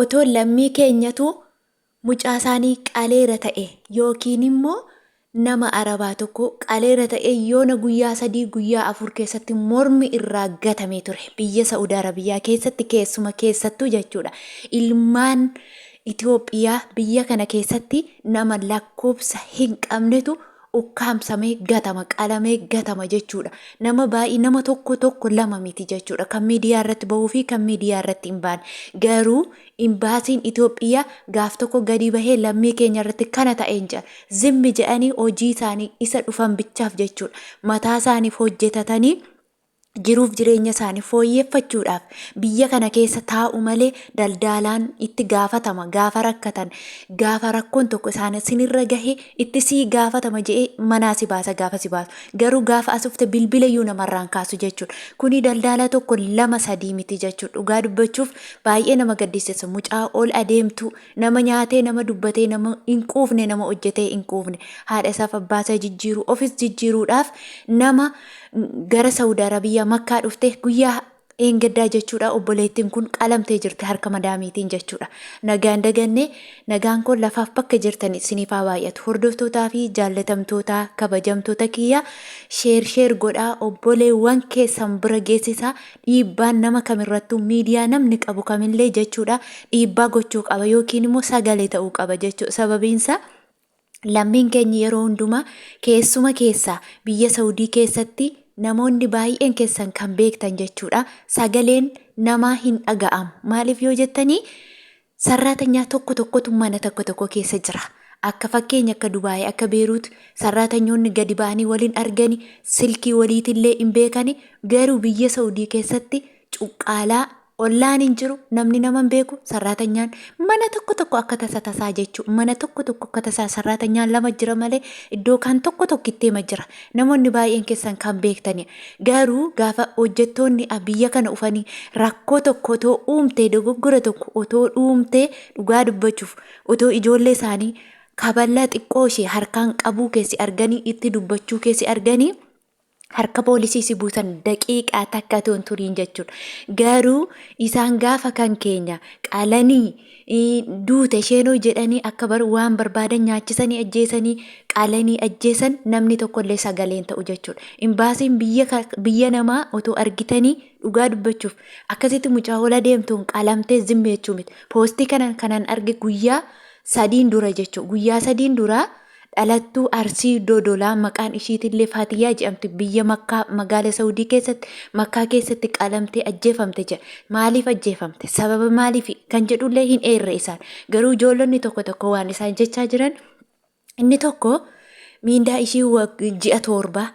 Otoo lammii keenyatu mucaasaanii qaleera ta'e yookiinimmoo nama Arabaa tokko qaleera ta'e yoona guyyaa sadii guyyaa afur keessatti mormi irraa gatamee ture. Biyya Sa'ud Arabiyyaa keessatti keessuma keessattuu jechuudha ilmaan Itoophiyaa biyya kana keessatti nama lakkoobsa hin qabnetu ukkaamsamee gatama, qalamee gatama jechuudha. Nama baay'ee nama tokko tokko lama miti jechuudha. Kan miidiyaa irratti bahuu fi kan miidiyaa irratti hin baane. Garuu imbaasiin Itoophiyaa gaaf tokko gadi bahee lammii keenya irratti kana ta'e hin jedhan. Zimmi jedhanii hojii isaanii isa dhufan bichaaf jechuudha. Mataa isaaniif hojjetatanii jiruuf jireenya isaanii fooyyeffachuudhaaf biyya kana keessa taa'u malee daldaalaan itti gaafatama gaafa rakkatan gaafa rakkoon tokko isaan sinirra gahe itti sii gaafatama je'ee manaa si baasa gaafa si baasu garuu gaafa asufte bilbila iyyuu namarraan kaasu jechuudha kuni daldaalaa tokko lama sadii miti jechuudha dhugaa dubbachuuf baay'ee nama gaddisiisa mucaa ol adeemtu nama nyaatee nama dubbatee nama hin quufne nama hojjetee hin quufne haadha isaaf abbaa isaa jijjiiru ofis jijjiiruudhaaf nama eh, gara Saudi Arabia makkaa dhufte guyyaa dheengaddaa jechuudha obboleettiin kun qalamtee jirti harka madaamiitiin jechuudha nagaan daganne nagaan kun lafaaf bakka jirtan isiniif haa baay'atu hordoftootaa fi jaallatamtootaa kabajamtoota kiyyaa sheer sheer godhaa obboleewwan keessan bira geessisaa dhiibbaan nama kamirrattuu miidiyaa namni qabu kamillee jechuudha dhiibbaa gochuu qaba yookiin immoo sagalee ta'uu qaba jechuu sababiinsa Lammiin keenya yeroo hundumaa keessuma keessaa biyya Sawudii keessatti namoonni baay'een keessan kan beektan jechuudha. Sagaleen namaa hin dhaga'amu. Maaliif yoo jettanii sarraatanyaa tokko tokkotu mana tokko tokko keessa jira. Akka fakkeenya akka Dubaayii akka Beeruut sarraatanyoonni gadi ba'anii waliin argani silkii waliitillee hin beekani garuu biyya Sawudii keessatti cuqqaalaa Ollaan hin jiru, namni nama hin beeku, sarraatanyaan mana tokko tokko akka tasa tasaa jechuu mana tokko tokko akka tasaa sarraatanyaan lama jira malee iddoo kan tokko tokkitteema jira. Namoonni baay'een keessan kan beektani. Garuu gaafa hojjettoonni biyya kana dhufanii rakkoo tokko otoo uumtee dogoggora tokko otoo dhuumtee dhugaa dubbachuuf otoo ijoollee isaanii kaballaa xiqqoo ishee harkaan qabuu keessi arganii itti dubbachuu keessi arganii harka poolisii si buusan daqiiqaa takka otoo hin turiin jechuudha. Garuu isaan gaafa kan keenya qalanii ii, duute isheenoo jedhanii akka bar waan barbaadan nyaachisanii ajjeesanii qalanii ajjeesan namni tokkollee sagaleen ta'u jechuudha. Imbaasiin biyya, ka- biyya namaa otoo argitanii dhugaa dubbachuuf akkasitti mucaa hola deemtuun qalamtee zimmi jechuu miti. Poostii kanan kanan arge guyyaa sadiin dura jechuudha. Guyyaa sadiin duraa Dhalattuu Arsii Dodolaa maqaan ishiitillee Faatiyyaa jedhamtu biyya Makkaa magaala Sa'udii keessatti Makkaa keessatti qalamtee ajjeefamte jedha. Maaliif ajjeefamte? Sababa maaliifi? Kan jedhullee hin eerre isaan. Garuu ijoollonni tokko tokko waan isaan jechaa jiran inni tokko miindaa ishii ji'a toorbaa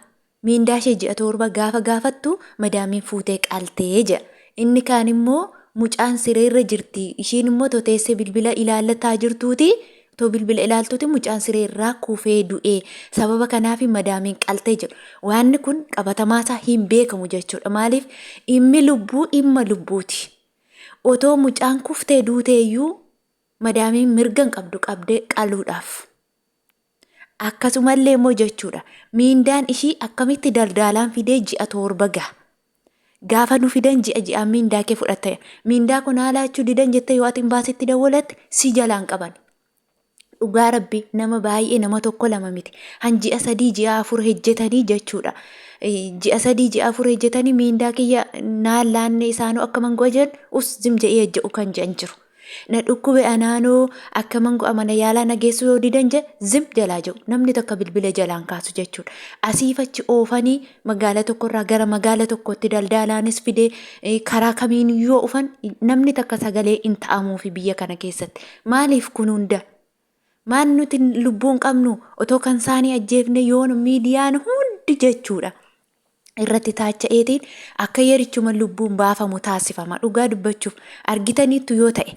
Miindaashee ji'a torba gaafa gaafattu madaamiin fuutee qalte jedha. Inni kaan immoo mucaan sireerra jirti ishiin immoo otoo teessee bilbila ilaallataa jirtuuti otoo bilbila ilaaltuuti mucaan siree irraa kufee du'e sababa kanaaf madaamiin qalte jedhu. Waanni kun qabatamaasaa hin beekamu jechuudha. Maaliif dhimmi lubbuu dhimma lubbuuti. Otoo mucaan kuftee duuteeyyuu madaamiin mirga hin qabdu qabdee qaluudhaaf. Akkasumallee immoo jechuudha miindaan ishii akkamitti daldaalaan fidee ji'a torba gaha. Gaafa nu fidan ji'a ji'aan miindaa kee fudhatta. Miindaa kun haalaachuu didan jettee yoo ati imbaasitti dawwalatte si jalaan qaban. Dhugaa rabbi nama baay'ee nama tokko lama miti. Han ji'a sadii ji'a afur hejjetanii jechuudha. Ji'a sadii ji'a afur hejjetanii miindaa kiyya naan laanne isaanuu akka mangoo jedhu us zim je'ee hejje'u kan jedhan jiru. Na dhukkube anaanoo akkaman go'a mana yaalaa na geessuu yoo didan je zim jalaa jiru. Namni tokko bilbile jalaan kaasu jechuudha. Asiif achi oofanii magaala tokkorraa gara magaala tokkootti daldaalaanis fidee eh, karaa kamiin yoo ufan namni takka sagalee hin ta'amuufi biyya kana keessatti. Maaliif kun hunda? Maan nuti lubbuun qabnu otoo kan saanii ajjeefne yoon miidiyaan hundi jechuudha. irratti taacha'eetiin akka yerichuma lubbuun baafamu taasifama. Dhugaa dubbachuuf argitaniittu yoo ta'e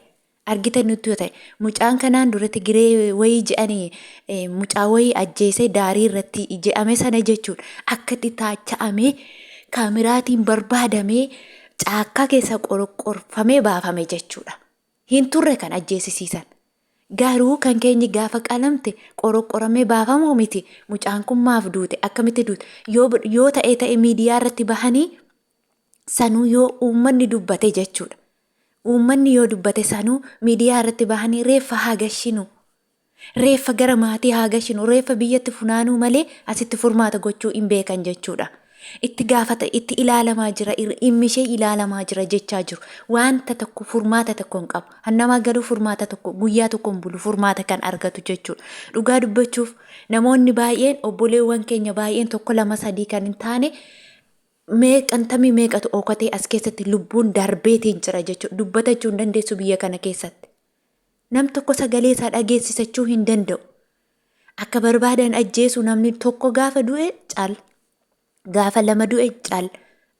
argitaniittu yoo ta'e mucaan kanaan dura Tigiree wayii je'anii eh, mucaa wayii ajjeesee daarii irratti je'ame sana jechuun akka itti taacha'amee kaamiraatiin barbaadamee caakkaa keessa qoroqqorfamee baafame jechuudha. hin turre kan ajjeesisiisan. Garuu kan keenyi gaafa qalamte qoroqoramee baafamu miti mucaan kun maaf duute akkamitti duute yoo yoo ta'e ta'e miidiyaa irratti bahanii sanuu yoo uummanni dubbate jechuudha. Uummanni yoo dubbate sanuu miidiyaa irratti bahanii reeffa haa gashinu Reeffa gara maatii haa gashinu, reeffa biyyatti funaanuu malee asitti furmaata gochuu hin beekan jechuudha. Itti gaafata, itti ilaalamaa jira, ir- dhimmi ishee ilaalamaa jira jechaa jiru. Wanta tokko furmaata tokko hin qabu. Hannamaa galuu furmaata tokko, guyyaa tokko hin bulu furmaata kan argatu jechuudha. Dhugaa dubbachuuf namoonni baay'een, obboleewwan keenya baay'een tokko lama sadii kan hin taane meeqantamii meeqatu ookatee as keessatti lubbuun darbeetiin jira jechuudha. Dubbatachuu hin dandeessu biyya kana keessatti. Nam tokko sagalee isaa dhageessisachuu hin danda'u. Akka barbaadan ajjeesu namni tokko gaafa du'e cal. Gaafa lama du'e cal.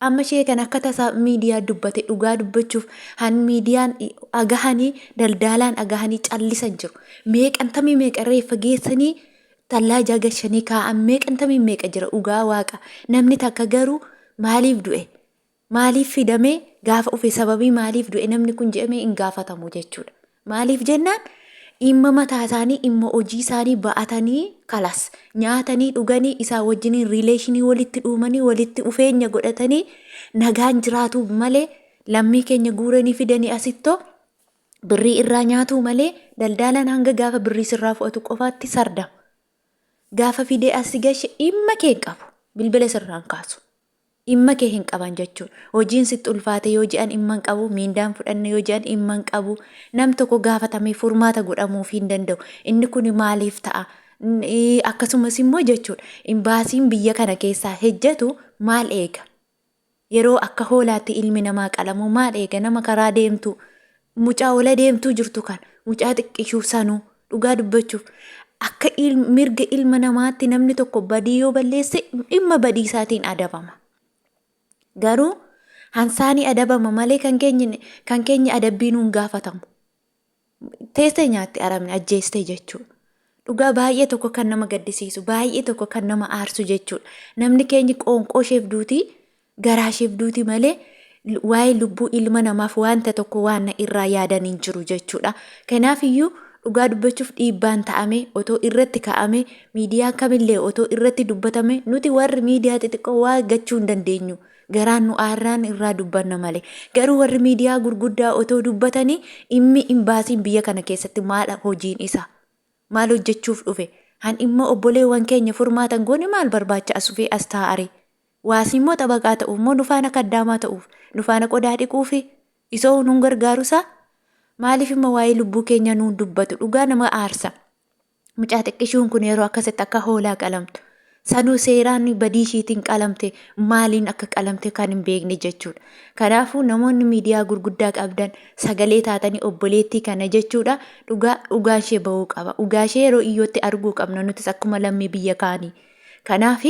Amma ishee kan akka tasaa miidiyaa dubbate dhugaa dubbachuuf han miidiyaan agahanii daldaalaan agahanii callisan jiru. Meeqantamii meeqa reeffa geessanii tallaa ijaa gashanii kaa'an meeqantamii meeqa jira dhugaa waaqa. Namni takka garuu maaliif du'e? Maaliif fidame gaafa ufe sababii maaliif du'e namni kun jedhame hin gaafatamu jechuudha. Maaliif jennaan dhimma mataa isaanii dhimma hojii isaanii ba'atanii kalas nyaatanii dhuganii isaa wajjiniin riileeshinii walitti dhuumanii walitti dhufeenya godhatanii nagaan jiraatuuf malee lammii keenya guuranii fidanii asittoo birrii irraa nyaatuu malee daldaalaan hanga gaafa birrii sirraa fudhatu qofaatti sardama. Gaafa fidee asi gashe dhimma kee hin qabu bilbila sirraan kaasu. Dhimma kee hin qaban jechuu. Hojiin sitti ulfaate yoo je'an dhimma hin qabu, miindaan fudhanne yoo je'an dhimma hin qabu. Nam tokko gaafatamee furmaata godhamuufii hin danda'u. Inni kuni maaliif ta'a? Akkasumas immoo jechuudha imbaasiin biyya kana keessaa hejjatu maal eega? Yeroo akka hoolaatti ilmi namaa qalamu maal eega? Nama karaa deemtu Mucaa ol adeemtuu jirtu kana, mucaa xiqqishuu sanuu dhugaa dubbachuuf akka mirga ilma namaatti namni tokko badii yoo balleesse dhimma badii isaatiin adabama. Garuu hansaanii adabama malee kan keenya kan keenya adabbii nuun gaafatamu. Teessee nyaatte arabni ajjeestee jechuudha. Dhugaa baay'ee tokko kan nama gaddisiisu baay'ee tokko kan nama aarsu jechuudha. Namni keenya qoonqoo isheef duutii Garaasheef duuti malee waa'ee lubbuu ilma namaaf waanta tokko waanna irraa yaadan hin jiru jechuudha. Kanaaf iyyuu dhugaa dubbachuuf dhiibbaan ta'amee otoo irratti ka'amee miidiyaa kamillee otoo irratti dubbatame nuti warri miidiyaa xixiqqoo waa gachuu hin dandeenyu. Garaan nu aarraan irraa dubbanna malee. Garuu warri miidiyaa gurguddaa otoo dubbatanii dhimmi imbaasiin biyya kana keessatti maal hojiin isaa? Maal hojjechuuf dhufe? Han dhimma obboleewwan keenya furmaatan goone maal barbaacha as dhufee as taa'aree? Waasii immoo xabaqaa ta'uuf moo nu faana kaddaamaa ta'uuf? Nu faana qodaa dhiquufi? Isoo nun gargaaru isaa? Maaliif immoo waa'ee lubbuu keenyaa nuun dubbatu? Dhugaa nama aarsa. Mucaa xiqqishuun kun yeroo akkasitti akka hoolaa qalamtu. Sanuu seeraan badii ishiitiin qalamte maaliin akka qalamte kan hin beekne jechuudha. Kanaafuu namoonni miidiyaa gurguddaa qabdan sagalee taatanii obboleettii kana jechuudha dhugaa dhugaan ishee ba'uu qaba. Dhugaa ishee yeroo iyyootti arguu qabna nutis akkuma lammii biyya kaanii. Kanaaf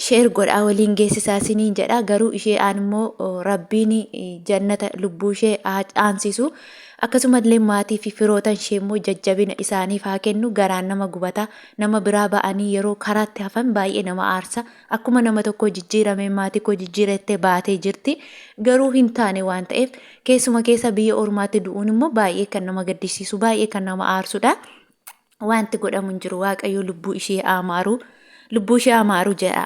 share godhaa waliin geessisaa isiniin jedha garuu ishee aan immoo rabbiin jannata lubbuu ishee haa aansisu akkasumallee maatii fi firootan ishee immoo jajjabina isaaniif haa kennu garaan nama gubata nama biraa ba'anii yeroo karaatti hafan baay'ee nama aarsa akkuma nama tokko jijjiiramee maatii koo jijjiirattee baatee jirti garuu hin taane waan ta'eef keessuma keessa biyya ormaatti du'uun immoo baay'ee kan nama gaddisiisu baay'ee kan nama aarsudha. Wanti godhamu hin jiru waaqayyo lubbuu ishee haa maaru lubbuu ishee haa maaru jedha.